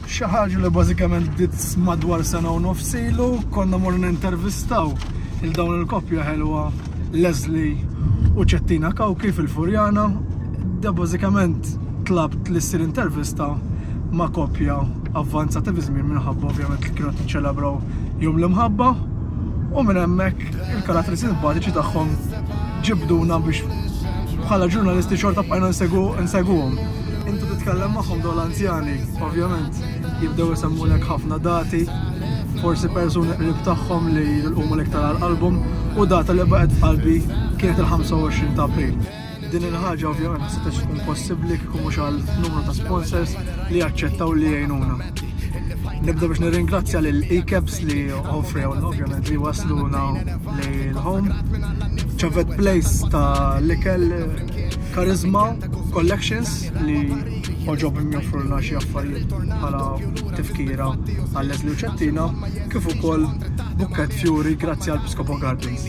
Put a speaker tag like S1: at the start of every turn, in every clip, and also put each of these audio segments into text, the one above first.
S1: Xi ħaġa li bażikament bdiet madwar sena u nofs ilu konna mor nintervistaw il dawn il-koppja ħelwa Leslie u Ċettina Kawki fil-Furjana. Da bażikament tlabt li ssir intervista ma' koppja avvanzata fi żmien minħabba ovvjament li kienu qed niċċelebraw jum l-imħabba u minn hemmhekk Il-karatteristiċi simpatiċi tagħhom ġibduna biex bħala ġurnalisti xorta bqajna nsegwuhom. Intu titkellem magħhom dawn l-anzjani, ovvjament, jibdew isemmulek ħafna dati, forsi persuni qrib tagħhom li jilqumulek tara għal qalbhom, u data li baqgħet f'qalbi kienet il-25 ta' April. Din il-ħaġa ovvjament ma setgħetx tkun possibbli kieku mhux għal numru ta' sponsors li aċċettaw li jgħinuna. Nibda biex nirringrazzja lil Ecaps li offrewlna ovvjament li wasluna li l-home. Ċavet Place ta' l-ikel Charisma Collections li oġobhom joffrulna xi affarijiet bħala tifkira għal Leslie u Ċettina kif ukoll Bukkett Fjuri grazzi għal Piscopo Gardens.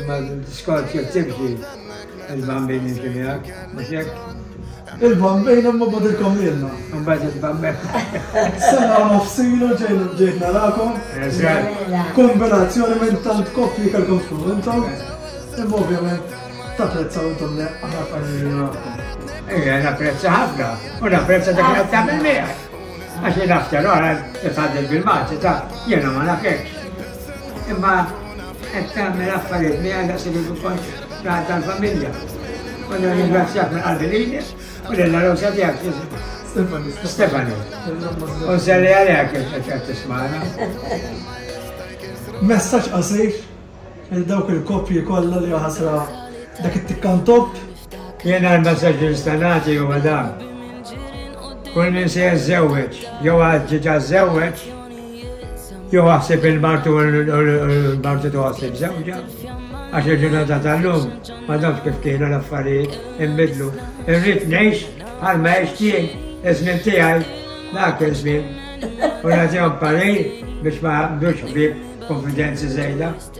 S2: Imma l-diskors jekk timxi il-Bambin jimxi miegħek, mhux hekk? Il-Bambin
S1: imma bagħadilkom lilna. Imbagħad il-Bambin.
S2: Sena
S1: nofsilu ġejn ġejt narakom. Kombinazzjoni minn tant koppji kellkom tkunu intom. Imma ovvjament tapprezzaw intom li aħna familji narakom. Ejja, napprezza
S2: ħafna u napprezza dak li tagħmel miegħek. Għax jien after all, titħaddel bil-Malti ta' jiena ma nafekx. Imma qed tagħmel affarijiet miegħi daqshekk kif ikontx raħat tal-familja. U nirringrazzjak minn qalbi lilek u lil Rosa tiegħek Stefani. Stefani. U nselli għalek il-ċeċet tismana.
S1: Messaċ qasir il-dawk il-koppji kollha li ħasra dak it-tikkan top L-inqar
S2: messaġġ li nista' nagħti huwa dan. Kull min se jiżżewweġ jew għad ġiġa żżewweġ, jew aħseb il-martu u l-martu toħsib żewġa, għax il-ġurnata tal-lum ma dawx kif kienu l-affarijiet imbidlu. Irrid ngħix għal ma għex jien, iż-żmien tiegħi dak iż-żmien. U nagħtihom parir biex ma għandux ħbieb konfidenzi żejda.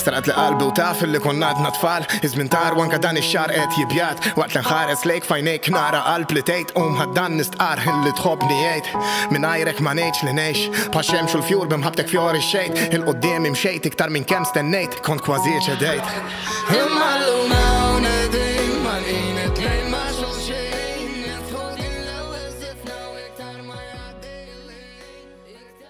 S3: Staqat li qalbi u taf illi konna għadna tfal Iż-żmien tar u anke dan ix-xahar qed jibjad Waqt li nħares lejk f'għajnejk nara qalb li tgħid Qum ħa dan nistqarr illi tħobbni għid Mingħajrek ma ngħidx li ngħix Bħax-xemx u l-fjur b'imħabbtek fjorixxejt Il quddiemi mxejt iktar minn kemm
S4: stennejt
S3: Kont kważi ċedejt
S4: Imma
S3: llum hawn qegħdin magħlqin it-tnejn ma' xulxin Niftħu din l-ewwel żifna u iktar ma jgħaddi l-ħin